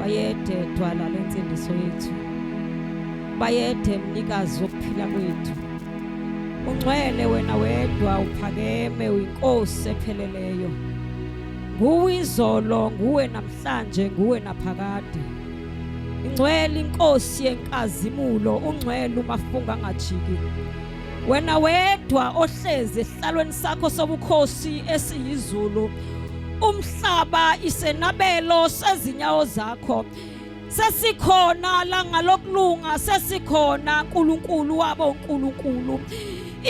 bayede dwala lensindiso yethu bayede mnikazi wokuphila kwethu ungcwele wena wedwa uphakeme uyinkosi epheleleyo nguwe izolo nguwe namhlanje nguwe naphakade ingcwele inkosi yenkazimulo ungcwele umafunga angajiki wena wedwa ohlezi esihlalweni sakho sobukhosi esiyizulu umhlaba isenabelo sezinyawo zakho sesikhona la ngalokulunga sesikhona uNkulunkulu wabo uNkulunkulu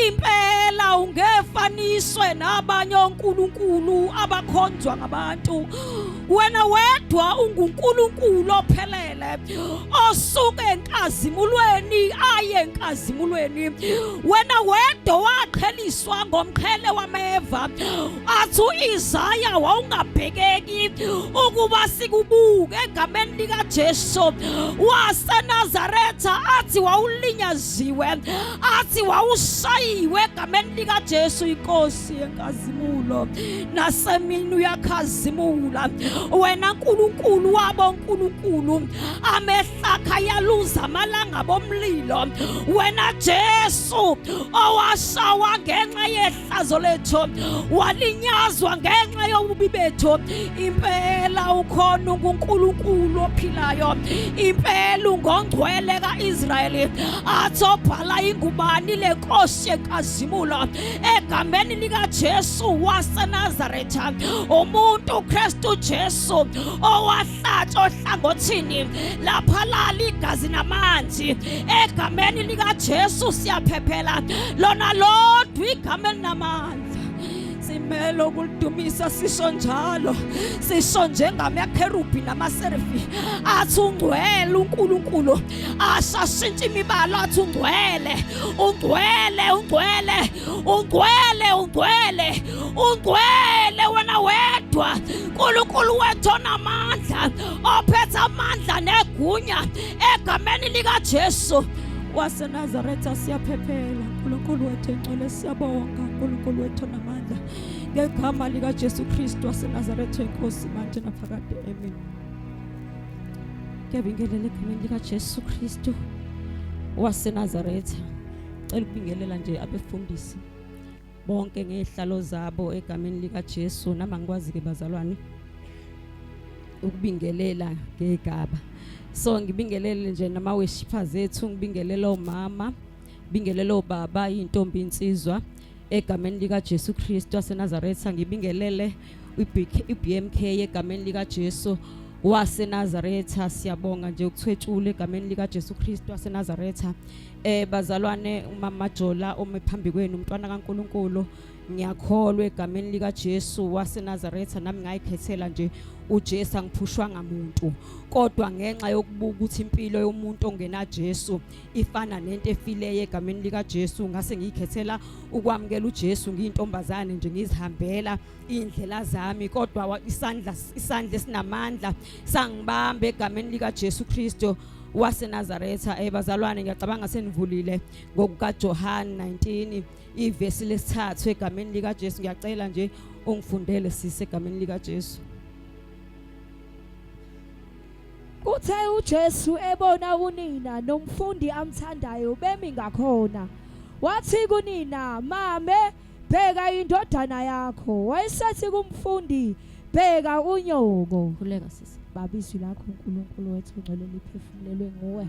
impela ungefaniswe nabanye oNkulunkulu abakhonzwa ngabantu wena wedwa unguNkulunkulu ophelele osuke enkazimulweni aye enkazimulweni wena wedwa waqheliswa ngomqhele wameva athi uIsaya wawungabhekeki ukuba sikubuke egameni likaJesu waseNazaretha athi wawulinyaziwe athi wawushayiwe egameni likaJesu inkosi Nkosi yenkazimulo nasemini uyakhazimula wena nkulunkulu wabo nkulunkulu amehlakha yaluza amalanga bomlilo wena jesu owashawa ngenxa yehlazo lethu walinyazwa ngenxa yobubi bethu impela ukhona ungunkulunkulu ophilayo impela ungongcwele ka-israyeli athi obhala ingubani le nkosi yenkazimulo egameni likaJesu waseNazaretha umuntu uKristu Jesu owahlatshwa ohlangothini lapha lali igazi namanzi egameni likaJesu siyaphephela lona lodwa igama elinamandla simele ukulidumisa sisho njalo sisho njengamakherubhi namaserifi athi ungcwele uNkulunkulu ashashintshe imibala athi ungcwele ungcwele ungcwele ungcwele ungcwele ungcwele wena wedwa nkulunkulu wethu onamandla ophethe amandla negunya egameni likajesu wasenazaretha siyaphephela nkulunkulu wethu engcwele siyabonga nkulunkulu wethu onamandla ngegama likajesu kristu wasenazaretha enkosi manje naphakade amen Ngiyabingelela egameni likaJesu Kristu waseNazaretha. Cela ukubingelela nje abefundisi bonke ngezihlalo zabo egameni likaJesu nama ngikwazi ke bazalwane ukubingelela ngegaba. So ngibingelele nje nama weshifa zethu, ngibingelela omama, ngibingelela obaba, intombi insizwa. egameni likaJesu Kristu waseNazaretha ngibingelele iBMK egameni likaJesu waseNazaretha siyabonga nje ukuthwetshula egameni likaJesu Kristu waseNazaretha eh bazalwane umama Jola ome phambi kwenu umntwana kaNkuluNkulu ngiyakholwa egameni likaJesu waseNazaretha nami ngayikhethela nje uJesu angiphushwanga muntu kodwa ngenxa yokubuka ukuthi impilo yomuntu ongena Jesu ifana nento efileyo egameni likaJesu ngase ngiyikhethela ukwamukela uJesu ngiyintombazane nje ngizihambela indlela zami kodwa isandla isandla esinamandla sangibamba egameni likaJesu Kristo waseNazaretha eh bazalwane ngiyacabanga senivulile ngokukaJohn 19 ivesi lesithathu egameni likaJesu ngiyacela nje ungifundele sise egameni likaJesu Kuthe uJesu ebona unina nomfundi amthandayo bemi ngakhona. Wathi kunina, "Mame, bheka indodana yakho." Wayesethi kumfundi, "Bheka unyoko." Khuleka sisi. Baba izwi lakho uNkulunkulu wethu ongcwele liphefumulelwe nguwe.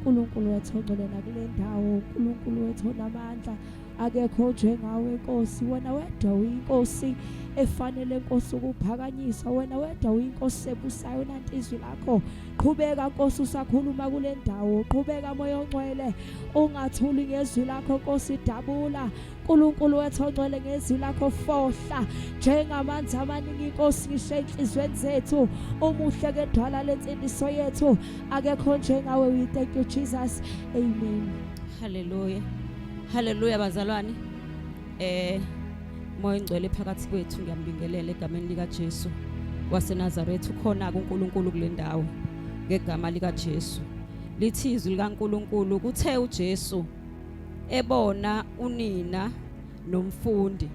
uNkulunkulu wethu ongcwele nakule ndawo, uNkulunkulu wethu onamandla. akekho njengawe Nkosi wena wedwa uyinkosi efanele Nkosi ukuphakanyiswa wena wedwa uyinkosi ebusayo nanti izwi lakho qhubeka Nkosi usakhuluma kule ndawo qhubeka moya ongcwele ungathuli ngezwi lakho Nkosi dabula uNkulunkulu wethu ongcwele ngezwi lakho fohla njengamanzi amaningi inkosi ngisho enhlizweni zethu umuhle kedwala lensindiso yethu akekho njengawe we thank you Jesus amen hallelujah Haleluya bazalwane. Eh moya ingcwele phakathi kwethu ngiyambingelela egameni lika Jesu waseNazaretha ukhona kuNkulunkulu kulendawo ngegama lika Jesu. Lithi izwi likaNkulunkulu kuthe uJesu ebona unina nomfundi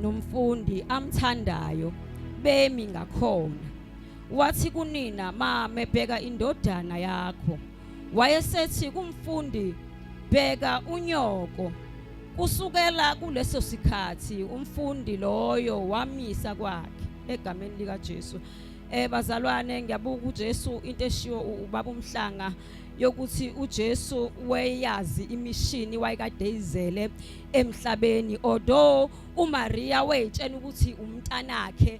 nomfundi amthandayo bemi ngakhona wathi kunina mame bheka indodana yakho wayesethi kumfundi bheka unyoko kusukela kuleso sikhathi umfundi loyo wamisa kwakhe egameni lika Jesu eh bazalwane ngiyabuka uJesu into eshiwo ubaba umhlanga yokuthi uJesu weyazi imishini wayekade izele emhlabeni although uMaria wayetshena ukuthi umntanakhe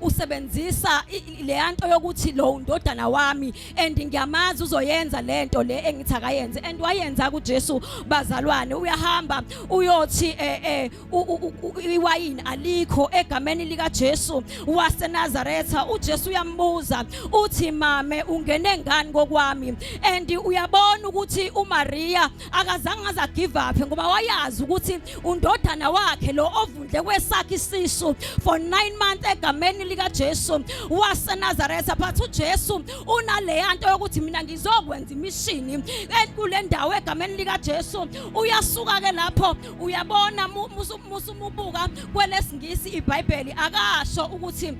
usebenzisa leya nto yokuthi lo undodana wami and ngiyamazi uzoyenza le nto le engithi akayenze and wayenza kuJesu bazalwane uyahamba uyothi eh, eh iwayini alikho egameni lika Jesu waseNazaretha uJesu uyambuza uthi mame ungene ngani kokwami and uyabona ukuthi uMaria akazange aze agive up ngoba wayazi ukuthi undodana wakhe lo ovundle kwesakhe isisu for 9 months egameni lika Jesu waseNazaretha but uJesu unaleya nto yokuthi mina ngizokwenza imishini enkule ndawo egameni lika Jesu uyasuka ke lapho uyabona musu mubuka kwelesingisi iBhayibheli akasho ukuthi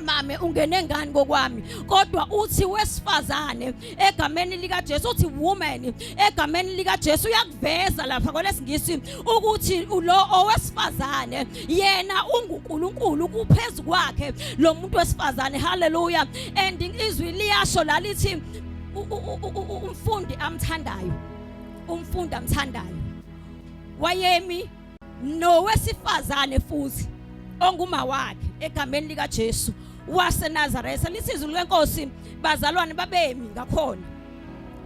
mame ungene ngani kokwami kodwa uthi wesifazane egameni lika Jesu uthi woman egameni lika Jesu uyakuveza lapha kwalesingisi ukuthi lo owesifazane yena unguNkulunkulu kuphezulu kwakhe lo muntu wesifazane haleluya and izwi liyasho lalithi umfundi amthandayo umfundi amthandayo wayemi nowesifazane futhi onguma wakhe egameni lika Jesu wase Nazareth lisizulu lenkosi bazalwane babemi ngakhona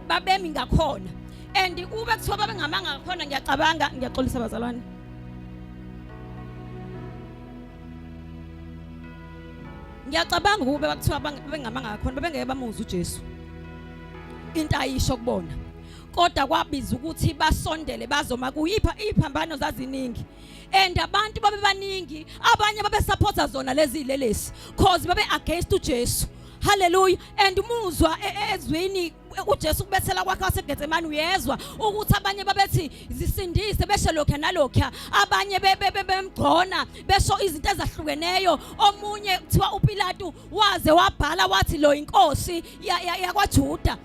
babemi ngakhona and ube kuthiwa babengamanga ngakhona ngiyacabanga ngiyaxolisa bazalwane ngiyacabanga ukube bakuthiwa bengamanga ngakhona bebengeke bamuzwa uJesu into ayisho kubona kodwa kwabiza ukuthi basondele bazoma kuyipha iphambano zaziningi and abantu babebaningi abanye babesupporta zona lezi lelesi cause babe against uJesu haleluya and umuzwa e, e, ezwini uJesu kubethela kwakhe waseGetsemane uyezwa ukuthi abanye babethi zisindise beshe lokho nalokho abanye bemgcona besho izinto ezahlukeneyo omunye kuthiwa uPilatu waze wabhala wathi lo inkosi yakwaJuda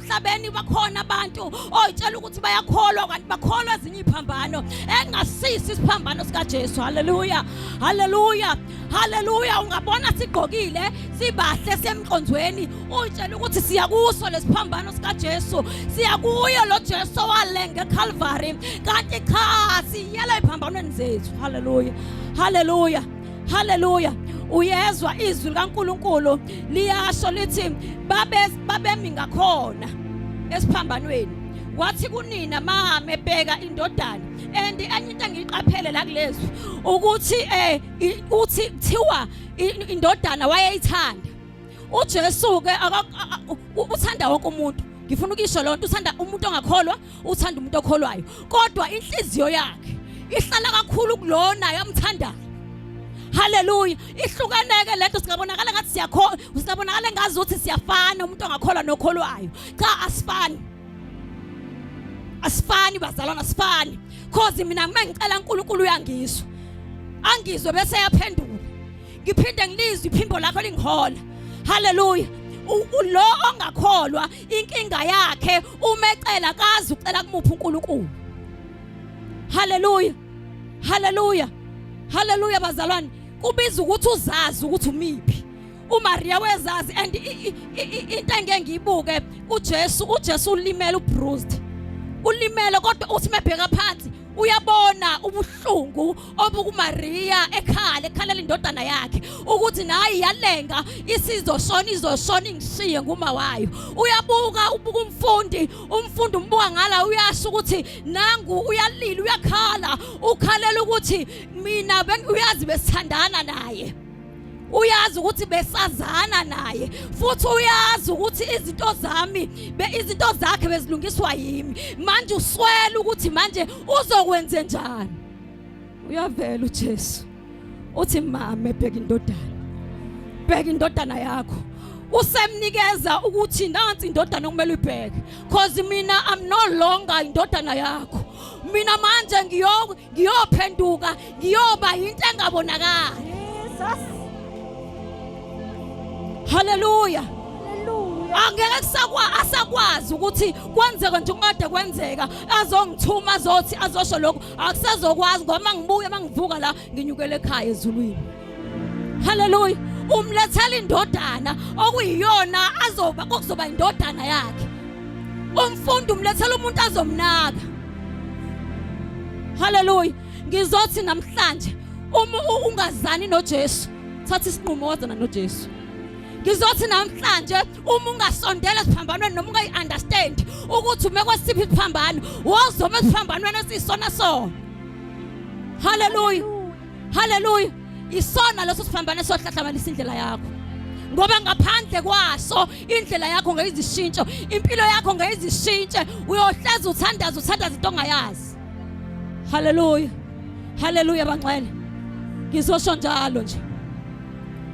emhlabeni bakhona abantu oyitshela ukuthi bayakholwa kanti bakholwa ezinye iphambano engasisi isiphambano sikaJesu haleluya haleluya haleluya ungabona sigqokile sibahle semqonzweni uyitshela ukuthi siya kuso lesiphambano sikaJesu siya kuyo lo Jesu walenga eCalvary kanti cha siyela iphambanweni zethu haleluya haleluya haleluya uyezwa izwi likaNkuluNkulu liyasho lithi babe babemi ngakhona esiphambanweni wathi kunina mame bheka indodana and enye into engiyiqaphele la kulezwi ukuthi eh uthi kuthiwa indodana wayeyithanda uJesu ke uthanda wonke umuntu ngifuna ukisho lonto uthanda umuntu ongakholwa uthanda umuntu okholwayo kodwa inhliziyo yakhe ihlala kakhulu kulona yamthandayo haleluya ihlukaneke lento singabonakala ngathi siyakholwa singabonakala ngazi ukuthi siyafana umuntu ongakholwa nokholwayo cha asifani asifani bazalwana asifani cause mina uma ngicela uNkulunkulu uyangizwa angizwe bese yaphendula ngiphinde ngilizwe iphimbo lakho lingihola haleluya lo ongakholwa inkinga yakhe umecela kazi ucela kumuphi uNkulunkulu haleluya haleluya haleluya bazalwane kubiza ukuthi uzazi ukuthi umiphi uMaria wezazi and into engeke ngiyibuke uJesu uJesu ulimele ubruised ulimele kodwa uthi mebheka phansi uyabona ubuhlungu obuku Maria ekhala ekhalela indodana yakhe ukuthi nayi yalenga isizoshona izoshona ingishiye nguma wayo uyabuka ubuka umfundi umfundi umbuka ngala uyasho ukuthi nangu uyalila uyakhala ukhalela ukuthi mina uyazi besithandana naye uyazi ukuthi besazana naye futhi uyazi ukuthi izinto zami be izinto zakhe bezilungiswa yimi manje uswela ukuthi manje uzokwenze njani uyavela uJesu uthi mama ebheka indodana bheka indodana yakho usemnikeza ukuthi nansi indodana okumele uyibheke cause mina i'm no longer indodana yakho mina manje ngiyo ngiyophenduka ngiyoba into engabonakali Jesus Hallelujah angeke kusakwa asakwazi ukuthi kwenzeke nje kungade kwenzeka azongithuma azothi azosho lokho akusazokwazi ngoba mangibuye mangivuka la nginyukele ekhaya ezulwini haleluya umlethela indodana okuyiyona azoba kokuzoba indodana yakhe umfundi umlethela umuntu azomnaka haleluya ngizothi namhlanje uma ungazani noJesu thatha isinqumo wazana noJesu ngizothi namhlanje uma ungasondela esiphambanweni noma ungayi-understand ukuthi ume kwesiphi isiphambano wozoma esiphambanweni esiyisona sona haleluya haleluya isona leso siphambano esohlahlamanisa indlela yakho ngoba ngaphandle kwaso indlela yakho ngeyizishintsho impilo yakho ngeyizishintshe uyohleza uthandaza uthandaza into ongayazi haleluya Haleluya banxele. Ngizosho njalo nje.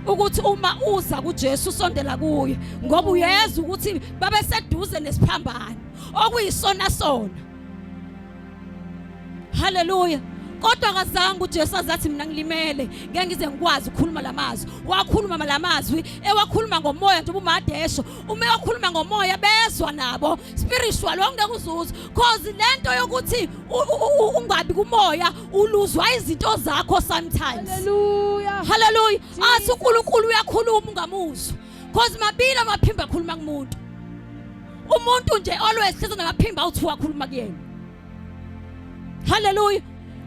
ukuthi uma uza kuJesu usondela kuye ngoba uyeza ukuthi babe seduze nesiphambano okuyisona sona haleluya kodwa kazange uJesu azathi mina ngilimele ngeke ngize ngikwazi ukukhuluma lamazwi wakhuluma lamazwi ewakhuluma ngomoya njengoba umadesho uma ewakhuluma ngomoya bezwa nabo spiritual wawungeke uzuze cause lento yokuthi ungabi kumoya uluzwa izinto zakho sometimes haleluya haleluya athi uNkulunkulu uyakhuluma ungamuzwa cause mabili amaphimba akhuluma kumuntu umuntu nje always hlezi namaphimba awuthi wakhuluma kuyena haleluya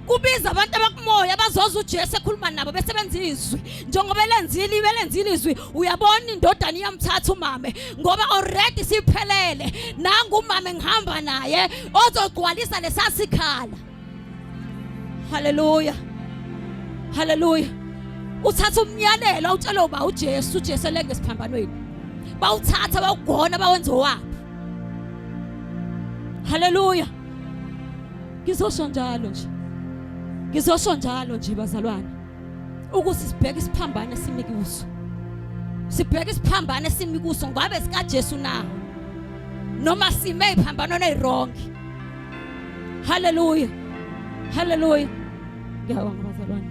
kubiza abantu abakumoya bazoza uJesu ekhuluma nabo besebenza izwi njengoba elenzile ibelenzile izwi uyabona indodana iyamthatha umame ngoba already siphelele nangu umame ngihamba naye ozogcwalisa lesasikhala haleluya haleluya uthatha umyalelo awutshelwe uba uJesu uJesu elenge esiphambanweni bawuthatha bawugona bawenze owabo Haleluya. Ngizosho njalo nje. Ngizosho njalo nje bazalwane. Ukuthi sibheke isiphambano esimi kuso. Sibheke isiphambano esimi kuso ngabe sika Jesu na. Noma sime iphambano neyiwrong. Haleluya. Haleluya. Ngiyabonga bazalwane.